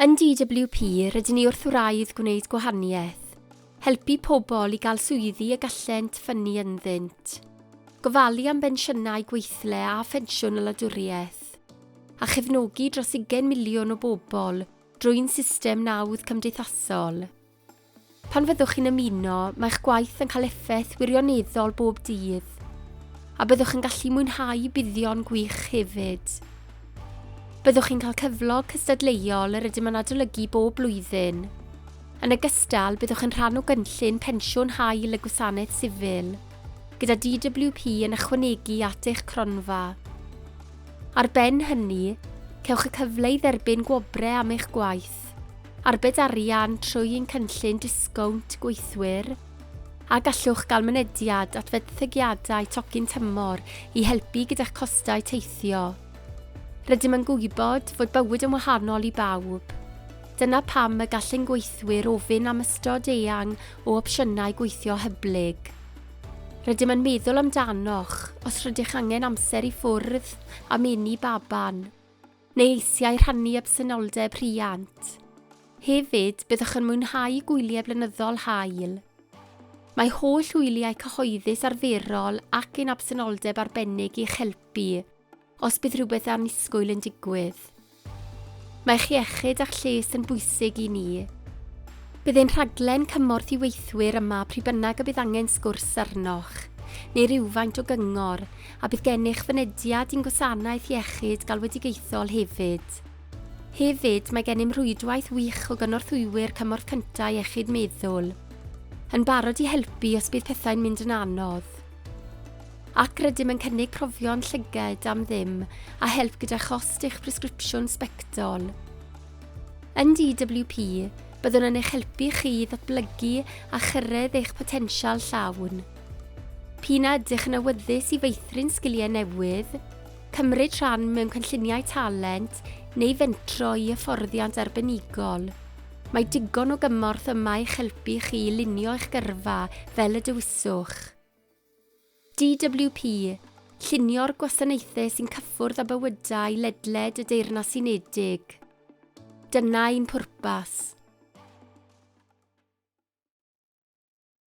Yn DWP, rydyn ni wrth wraidd gwneud gwahaniaeth, helpu pobl i gael swyddi y gallent ffynnu ynddynt, gofalu am bensiynau gweithle a phensiwn y wladwriaeth, a chefnogi dros ugain miliwn o bobl drwy'n system nawdd cymdeithasol. Pan fyddwch chi'n ymuno, mae'ch gwaith yn cael effaith wirioneddol bob dydd, a byddwch yn gallu mwynhau buddion gwych hefyd. Byddwch chi'n cael cyflog cystadleuol yr ydym yn adolygu bob blwyddyn. Yn ogystal, byddwch yn rhan o gynllun pensiwn hael y Gwasanaeth Sifil, gyda DWP yn ychwanegu at eich cronfa. Ar ben hynny, cewch y cyfle i dderbyn gwobrau am eich gwaith. gwaith, arbed arian trwy ein cynllun disgownt gweithwyr, a gallwch gael mynediad at fenthygiadau tocyn tymor i helpu gyda'ch costau teithio. Rydym yn gwybod fod bywyd yn wahanol i bawb. Dyna pam y gall ein gweithwyr ofyn am ystod eang o opsiynau gweithio hyblyg. Rydym yn meddwl amdanoch os rydych angen amser i ffwrdd am eni baban. neu eisiau rhannu absenoldeb rhiant. Hefyd, byddwch yn mwynhau gwyliau blynyddol haul. Mae holl wyliau cyhoeddus arferol ac ein absenoldeb arbennig i'ch helpu os bydd rhywbeth annisgwyl yn digwydd. Mae'ch iechyd a'ch lles yn bwysig i ni. Bydd ein rhaglen cymorth i weithwyr yma pryd bynnag y bydd angen sgwrs arnoch, neu rywfaint o gyngor, a bydd gennych fynediad i'n gwasanaeth iechyd galwedigaethol hefyd. Hefyd, mae gennym rhwydwaith wych o gynorthwywyr cymorth cyntaf iechyd meddwl, yn barod i helpu os bydd pethau'n mynd yn anodd. Ac rydym yn cynnig profion llyged am ddim a help gyda chost eich presgripsiwn sbectol. Yn DWP, byddwn yn eich helpu chi i ddatblygu a chyrraedd eich potensial llawn. P'un a ydych yn awyddus i feithrin sgiliau newydd, cymryd rhan mewn cynlluniau talent neu fentro i hyfforddiant arbenigol, mae digon o gymorth yma i'ch helpu chi i lunio eich gyrfa fel y dewiswch. DWP, Llunio'r gwasanaethau sy'n cyffwrdd â bywydau ledled y Deyrnas Unedig. Dyna ein pwrpas.